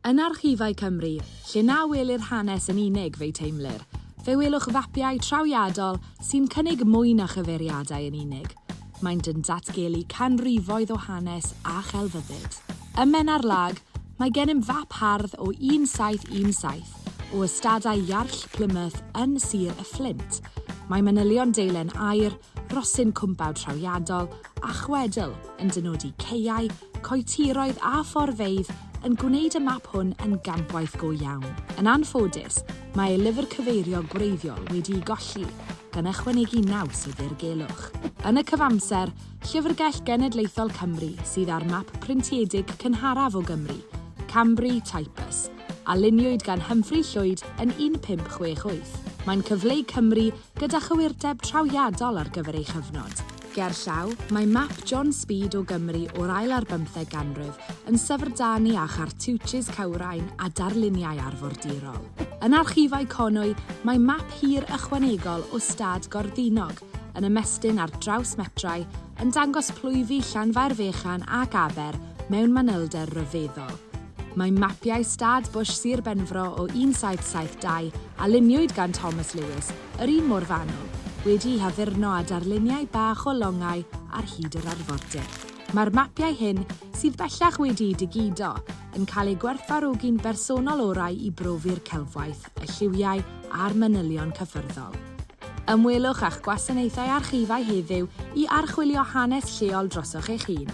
Yn archifau Cymru, lle na welir hanes yn unig, fe'i teimlir, fe welwch fapiau trawiadol sy'n cynnig mwy na chyfeiriadau yn unig. Maent yn datgelu canrifoedd o hanes a chelfyddyd. Ym Menarllag, mae gennym fap hardd o 1717 o ystadau Iarll Plymouth yn Sir y Fflint. Mae manylion deilen aur, rhosyn cwmpawd trawiadol a chwedl yn dynodi caeau, coetiroedd a phorfeydd yn gwneud y map hwn yn gampwaith go iawn. Yn anffodus, mae ei lyfr cyfeirio gwreiddiol wedi'i golli, gan ychwanegu naws i ddirgelwch. Yn y cyfamser, Llyfrgell Genedlaethol Cymru sydd â'r map printiedig cynharaf o Gymru, Cambry Typus, a luniwyd gan Humphrey Llwyd yn 1568. Mae'n cyfleu Cymru gyda chywirdeb trawiadol ar gyfer ei chyfnod. Gerllaw, mae map John Speed o Gymru o'r ail ar bymtheg ganrif yn syfrdanu â chartiwjis cywrain a darluniau arfordirol. Yn Archifau Conwy, mae map hir ychwanegol o stad Gorddinog, yn ymestyn ar draws metrau, yn dangos plwyfi Llanfairfechan ac Aber mewn manylder ryfeddol. Mae mapiau stad Bush Sir Benfro o 1772, a luniwyd gan Thomas Lewis, yr un mor fanwl, wedi'u haddurno â darluniau bach o longau ar hyd yr arfordir. Mae'r mapiau hyn, sydd bellach wedi'u digido, yn cael eu gwerthfawrogi'n bersonol orau i brofi'r celfwaith, y lliwiau a'r manylion cyffyrddol. Ymwelwch â'ch gwasanaethau archifau heddiw i archwilio hanes lleol drosoch eich hun.